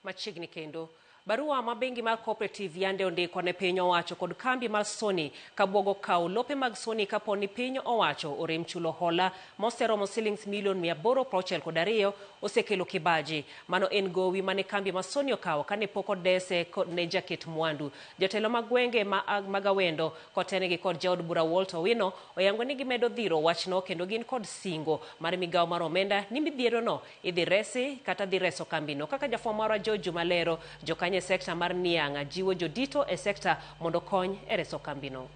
Machiegni kendo. Barua ma bengi mar Cooperative yande ondiko ne piny owacho kod kambi mar Sony kabwogo kawo lope mag Sony kapo ni piny owacho orem chulo hola moseromo silings milion 862 osekelo kibaji. Mano en gowi mane kambi ma Sony okawo kane pok odese ne jaket mwandu. Jotelo mag gwenge ma mag Awendo kotenegi kod jaod bura Walt Owino oyango ni gimedo dhiro wachno kendo gin kod singo mar migawo mar omenda ni midhierono Idhi resi kata dhi reso kambino. Kaka jafwambo marwa George Juma lero, jokanyo e sekta mar Nianga jiwo jodito e sekta mondo okony e reso kambino.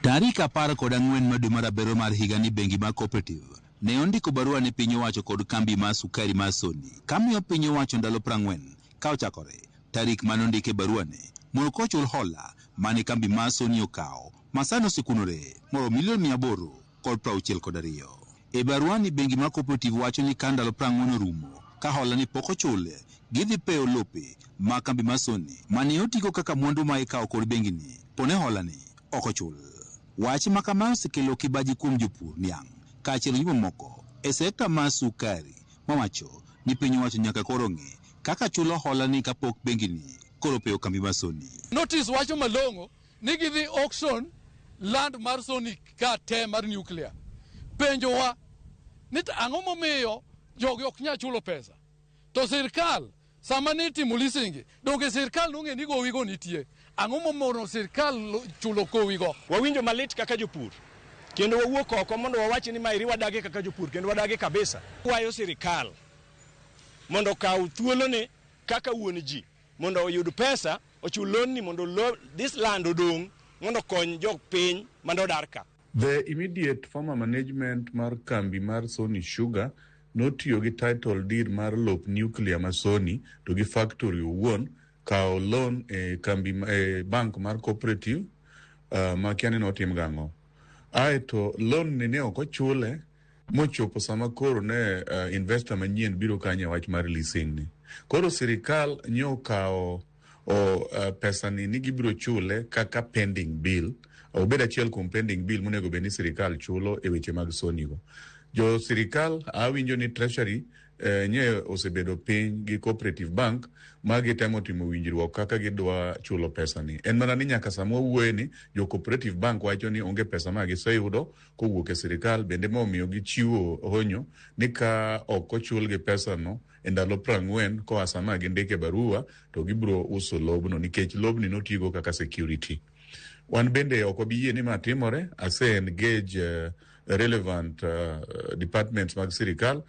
Tarik apar kod ang'wen ma dwe mar abiryo mar higani bengi mar Cooperative ne ondiko barua ne piny owacho kod kambi mar sukari mar Sony kamiyo piny owacho ndalo prang'wen ka ochakore tarik mane ondike baruane mondo kochul hola mane kambi mar Sony okawo masani osekunore moromo milion mia aboro kod prauchiel kod ariyo. E baruani bengi mar Cooperative wacho ni ka ndalo prang'wen orumo ka hola ni pok ochul, gidhi peyo lope mag kambi mar Sony mane otigo kaka mwandu ma ikawo kod bengini pone holani ok ochul. Wach makamae osekelo kibaji kuom jopur niang' kaachiel gi jomamoko e sekta mar sukari mawacho ni piny owacho nyaka koro ong'e kaka chulo holani kapok bengini koro opeyo kambi mar Sony. Notice wacho malong'o ni gidhi auction land mar sonic ka te mar nuclear penjowa ni to ang'o momiyo jogi ok nyal chulo pesa to sirkal sama ne itimo lisingi donge sirkal nong'e ni gowigo nitie ang'o momono sirkal lo- chulo kowigo Wawinjo malit kaka jopur kendo wawuok oko mondo wawachi ni maeri wadagi kaka jopur kendo wadagi kabisa. Kwayo sirikal mondo okaw thuolone kaka wuon ji mondo oyud pesa ochul lonni mondo lo, this land odong mondo kony jok piny mane odar ka. The immediate former management mar kambi mar Sony Sugar notiyo gi title deed mar lop nuclear ma Sony to gi factory owuon kawo loan e kambi e bank mar cooperative uh, ma kiani notim gang'o. Aeto loan ni ne ok ochule mochopo sama koro ne uh, investor manyien biro kanye wach mar leasing ni koro sirikal nyo kawo o uh, pesa ni ni gibiro chule kaka pending bill obed achiel kuom pending bill monego bed ni sirikal chulo e weche mag sonigo jo sirikal awinjo ni treasury eh, nye osebedo piny gi cooperative bank ma gitemo timo winjruok kaka gidwa chulo pesa ni en mana ni nyaka sama wawuoye ni jo cooperative bank wacho ni onge pesa ma giseyudo kowuok e sirikal bende ma omiyo gichiwo honyo ni ka ok ochulgi pesano e ndalo prang'wen koa sama gindike barua to gibiro uso lobno nikech lobni notigo kaka security wan bende ok wabi yie ni ma timore ase engage uh, relevant uh, departments mag sirikal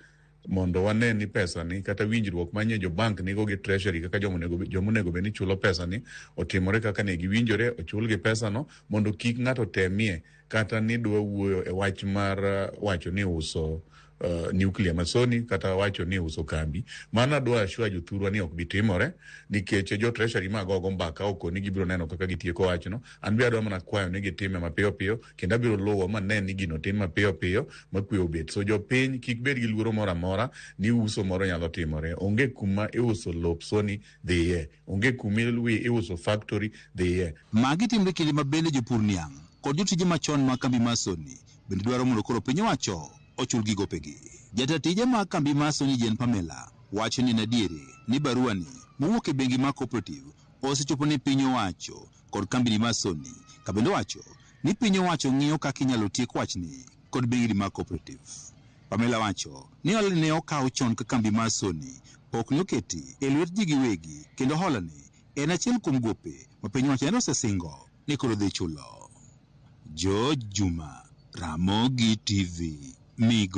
mondo wane ni pesani kata winjruok manye jo bank nigo gi treasury kaka joma onego bed ni chulo pesani otimore kaka ne giwinjore ochulgi pesano mondo kik ng'ato temie kata ni dwa wuoyo e wach mar uh, wacho ni uso uh, nuclear masoni kata wacho ni uso kambi mano adwa ashua jothurwa ni ok bitimore nikech jo treasury magogo mbaka okoni gibiro neno kaka gitieko wachno an be adwa mana kwayo ni gitime mapiyo piyo machuth kendo abiro luwo ma ne ni gino tim mapiyo piyo ma kwe obet so jopiny kik bed gi luoro moro amora ni uso moro nyalo timore onge kuma iuso lop soni dhiye onge kuma iluwi iuso factory dhiye Magi timre kinde ma bende jopur niang' kod jotije machon mag kambi mar Sony bende dwaro mondo koro piny owacho ochulgi gopegi. Jata tije mag kambi mar Sony Jane Pamela wacho ni en adieri ni baruani mowuok e bengi mar Cooperative osechopo ne piny owacho kod kambini mar Sony ka bende owacho ni piny owacho ng'iyo kaka inyalo tiek wachni kod bengini mag cooperative. Pamela wacho ni hola ne okaw chon ka kambi mar Sony pok ne oketi e lwet ji giwegi kendo holani en achiel kuom gope ma piny owacho nende osesingo ni koro dhi chulo. George Juma, Ramogi TV, Migo.